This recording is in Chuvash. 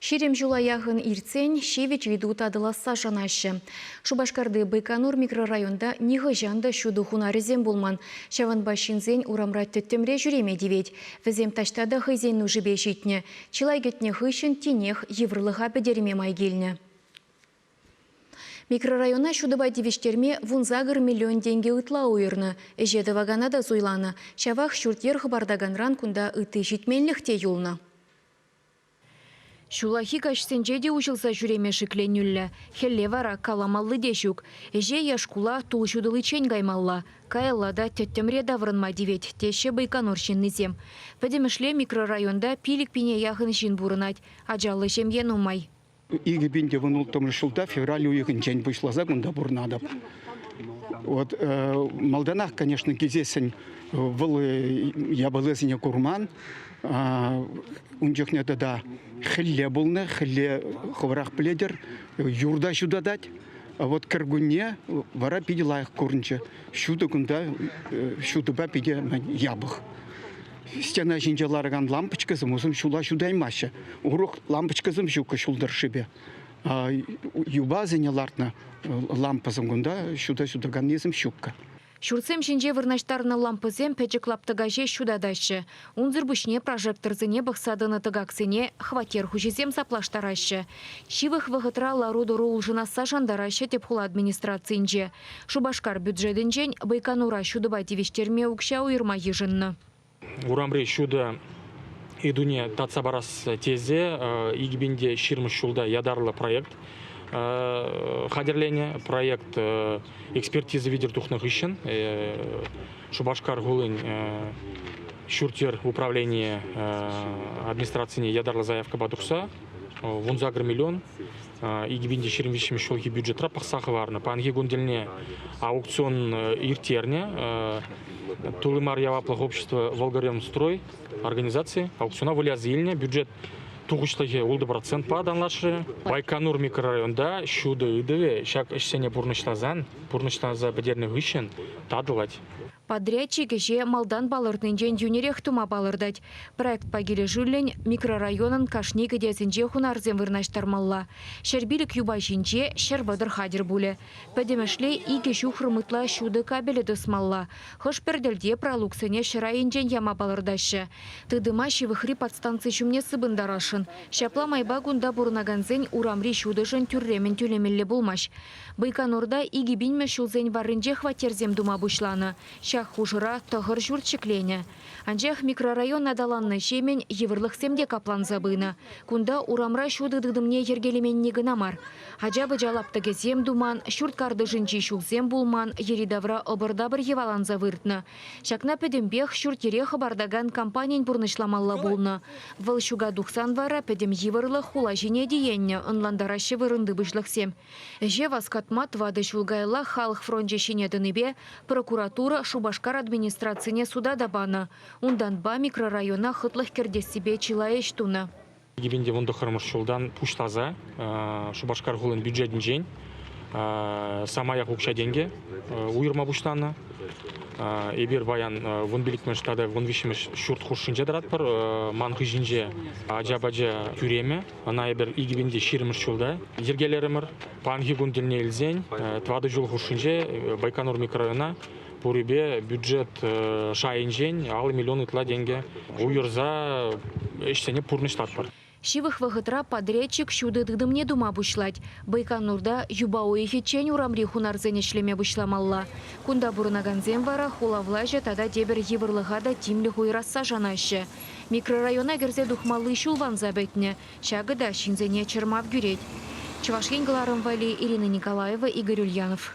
Ҫирӗм ҫула яхӑн иртсен ҫивӗч ыйту татӑласса шанаҫҫӗ. Шупашкарти Байконур микрорайонта нихӑҫан та ҫутӑ хунарӗсем пулман. Ҫавӑнпа ҫынсен урамра тӗттӗмре ҫӳреме тивет. Вӗсем таҫта та хӑйсен нушипе ҫитнӗ. Чылай кӗтнӗ хыҫҫӑн тинех йывӑрлӑха пӗтерме май килнӗ. Микрорайона ҫутӑпа тивӗҫтерме вунсакӑр миллион тенкӗ ытла уйӑрнӑ. Ӗҫе тӑвакана та суйланӑ. Ҫавах ҫурт-йӗр хӑпартаканран кунта ытти ҫитменлӗх те юлнӑ. Ҫуллахи каҫсенче те уҫӑлса ҫӳреме шикленӳллӗ. Хӗлле вара каламалли те ҫук. Ӗҫе е шкула тул ҫутӑличчен каймалла. Каялла та тӗттӗмре таврӑнма тивет, теҫҫӗ Байконур ҫыннисем. Пӗтӗмӗшле микрорайонта пилӗк пине яхӑн ҫын пурӑнать. Ачаллӑ ҫемье нумай. Икӗ пин тӑван улттӑмӗш ҫулта февраль уйӑхӗнчен пуҫласа кунта пурӑнатӑп. Вот, э, малтанах, конечно, килсессӗн вӑл э, япаласене курман. Ун чухне тата хӗлле пулнӑ, хӗлле хӑвӑрах пӗлетӗр, юрта ҫутатать. Вот кӗркунне вара питӗ лайӑх курӑнчӗ. Ҫутӑ кунта, э, ҫутӑпа питӗ япӑх. стена ҫинче ларакан лампочкӑсем усӑн ҫула ҫутаймаҫҫӗ. Урӑх лампочкӑсем ҫуккӑ ҫул тӑршшӗпе. Юбасене лартнӑ лампӑсем кунта ҫута ҫутаканнисем ҫуккӑ. Ҫуртсем ҫинче вырнаҫтарнӑ лампӑсем пӗчӗк лаптӑка ҫеҫ ҫутатаҫҫӗ. Унсӑр пуҫне прожекторсене пӑхса тӑнӑ тӑкаксене хваттер хуҫисем саплаштараҫҫӗ. Ҫывӑх вӑхӑтра лару-тӑру улшӑнасса шантараҫҫӗ тӗп хула администрацийӗнче. Шупашкар бюджетӗнчен Байконура ҫутӑпа тивӗҫтерме укҫа уйӑрма йышӑннӑ. Урамри ҫутӑ ыйтуне татса парас тесе икӗпинте ҫирӗммӗш ҫулта ятарлӑ проект хатӗрленӗ. Проект экспертиза витӗр тухнӑ хыҫҫӑн Шупашкар хулин ҫурт-йӗр управленийӗ администрацине ятарлӑ заявкӑпа тухса вунсакӑр миллион икӗ пин те ҫирӗм виҫҫӗмӗш ҫулхи бюджетра пӑхса хӑварнӑ. Паянхи кун тӗлне аукцион ирттернӗ. Тулли мар яваплӑх общество Волгоремстрой организаци аукциона выляса илнӗ. Бюджет тухӑҫлӑхӗ ултӑ процентпа танлашрӗ. Байконур микрорайонта ҫутӑ ыйтӑвӗ ҫак ӗҫсене пурнӑҫласан, пурнӑҫласа пӗтернӗ хыҫҫӑн татӑлать. Подрядчик ӗҫе малтан палӑртнинчен йӳнерех тума палӑртать. Проектпа килӗшӳллӗн микрорайонӑн кашни кӗтесӗнче хунарсем вырнаҫтармалла. Ҫӗрпилӗк юпа ҫинче ҫӗр-вӑтӑр хатӗр пулӗ. Пӗтӗмӗшле икӗ ҫухрӑм ытла ҫутӑ кабелӗ тӑсмалла. Хӑш-пӗр тӗлте пралуксене ҫӗр айӗнчен яма палӑртаҫҫӗ. Тытӑма ҫывӑхри подстанци ҫумне сыпӑнтарасшӑн. Ҫапла майпа кунта пурӑнакансен урамри ҫутӑшӑн тӳрремӗн тӳлемелле пулмасть. Байконурта икӗ пинмӗш ҫулсен варринче хваттерсем тума пуҫланӑ. Ҫак хушӑра тӑхӑр ҫурт ҫӗкленӗ. Анчах микрорайон аталаннӑҫемӗн йывӑрлӑхсем те капланса пынӑ. Кунта урамра ҫутӑ тытӑмне йӗркелеменни кӑна мар, ача-пӑча лаптӑкӗсем туман, ҫурт картишӗнчи ҫулсем пулман, йӗри-тавра ӑпӑр-тапӑр йӑваланса выртнӑ. Ҫакна пӗтӗмпех ҫурт-йӗре хӑпартакан компанин пурнӑҫламалла пулнӑ. Вӑл ҫука тухсан вара пӗтӗм йывӑрлӑх хула ҫине тиеннӗ, ӑнлантараҫҫӗ вырӑнти пуҫлӑхсем. Ӗҫе васкатма тӑватӑ ҫул каялла халӑх фрончӗ ҫине тӑнипе прокуратура Шупашкар администрацине суда та панӑ, унтанпа микрорайона хӑтлӑх кӗртессипе чылай ӗҫ тунӑ. 129 тӑххӑрмӗш ҫултан пуҫласа Шупашкар хулин бюджетӗнчен самаях укҫа-тенкӗ уйӑрма пуҫланӑ. Эпир паян вун пиллӗкмӗш тата вун виҫҫӗмӗш ҫурт хушшинче тӑратпӑр. Ман хыҫӗнче ача-пача тӳремӗ. Ӑна эпир икӗпинте ҫирӗммӗш ҫулта йӗркелерӗмӗр. Паянхи кун тӗлне илсен тӑватӑ ҫул хушшинче Байконур микрорайона пурипе бюджет шайӗнчен алӑ миллион ытла тенкӗ уйӑрса ӗҫсене пурнӑҫлатпӑр. Ҫывӑх вӑхӑтра подрядчик ҫутӑ тытӑмне тума пуҫлать. Байконурта юпа уйӑхӗччен урамри хунарсен ӗҫлеме пуҫламалла. Кунта пурӑнакансем вара хула влаҫӗ тата тепӗр йывӑрлӑха та тимлӗх уйӑрасса шанаҫҫӗ. Микрорайона кӗрсе тухмалли ҫул ванса пӗтнӗ, ҫакӑ та ҫынсене чӑрмав кӳрет. Чӑваш Ен кӑларӑм валли Ирина Николаева, Игорь Ульянов.